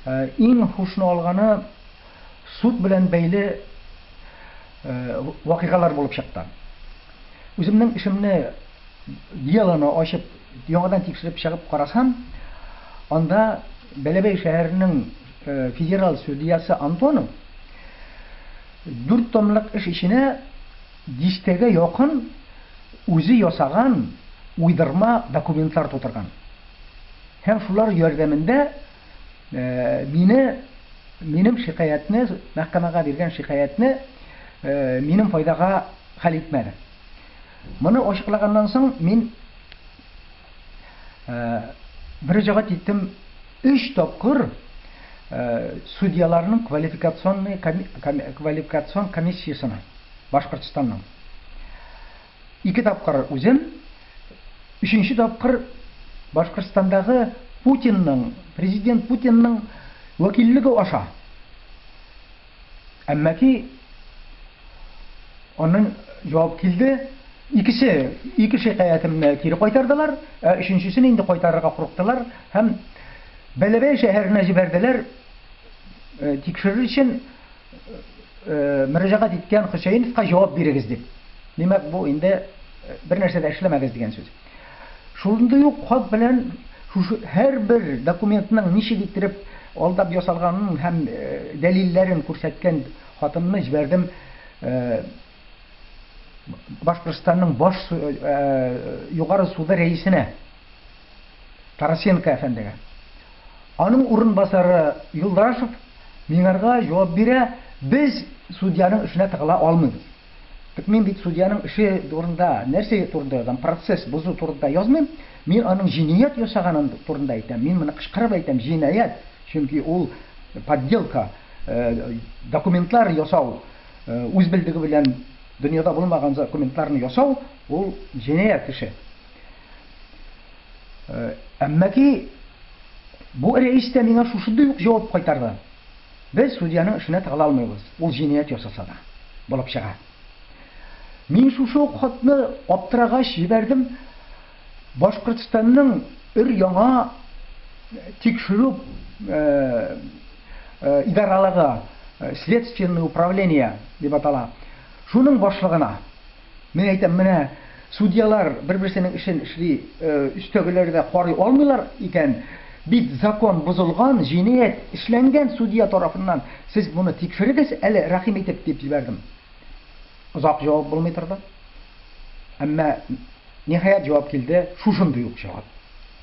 Ә иң һушны алганы суд белән бәйле вакыйгалар булып чыкты. Үземнең эшемне, делоны ачып, яңадан тикшереп чыгып карасам, анда Бәләбәй шәһәренең федераль судьясы Антонов дүрт томлык эш эченә дистәгә якын үзе ясаган уйдырма документлар тутырган һәм шулар ярдәмендә мине минем шикаятьне мәхкәмәгә биргән шикаятьне минем файдага хәл итмәде. Моны ачыклаганнан соң мин мөрәҗәгать иттем өч тапкыр судьяларның квалификационный квалификацион комиссиясенә Башкортстанның. Ике тапкыр үзем, өченче тапкыр Башкортстандагы Путинның, президент Путинның вәкиллеге аша. Әмма ки аннан җавап килде, икесе, ике шикаятемне кире кайтардылар, ә өченчесен инде кайтарырга курыктылар һәм Бәләбәй шәһәренә җибәрделәр тикшерер өчен. мөрәҗәгать иткән Хөсәеновка җавап бирегез дип. Димәк, бу инде бер нәрсә дә эшләмәгез дигән сүз. Шундый ук хат белән шушы һәрбер документның ничек иттереп алдап ясалганын һәм дәлилләрен күрсәткән хатымны җибәрдем Башкортстанның баш Югары суды рәисенә. Тарасенко әфәндегә. Аның урынбасары Юлдашев миңарга җавап бирә, Без судьяның эшенә тыгыла алмыйбыз. Тик мин бит судьяның эше турында, нәрсә турында язам, процесс бозу турында язмыйм, мин аның җинаять ясаганы турында әйтәм, мин моны кычкырып әйтәм, җинаять, чөнки ул подделка, документлар ясау, үз белдеге белән дөньяда булмаган документларны ясау, ул җинаять эше. Әмма ки бу рәис тә миңа шушындый ук җавап кайтарды, Без судьяның эшенә тыгыла алмыйбыз, ул җинаять ясаса да. Булып чыга. Мин шушы ук хатны аптырагач җибәрдем Башкортстанның өр-яңа тикшерү идаралыгы, Следственное управление дип атала, шуның башлыгына. Мин әйтәм, менә судьялар бер-берсенең эшен эшли, өстәгеләр дә карый алмыйлар икән, бит закон бозылган, җинаять эшләнгән судья тарафыннан, сез моны тикшерегез әле, рәхим итеп, дип җибәрдем. Озак җавап булмый торды. Әмма, ниһаять, җавап килде, шушындый ук җавап.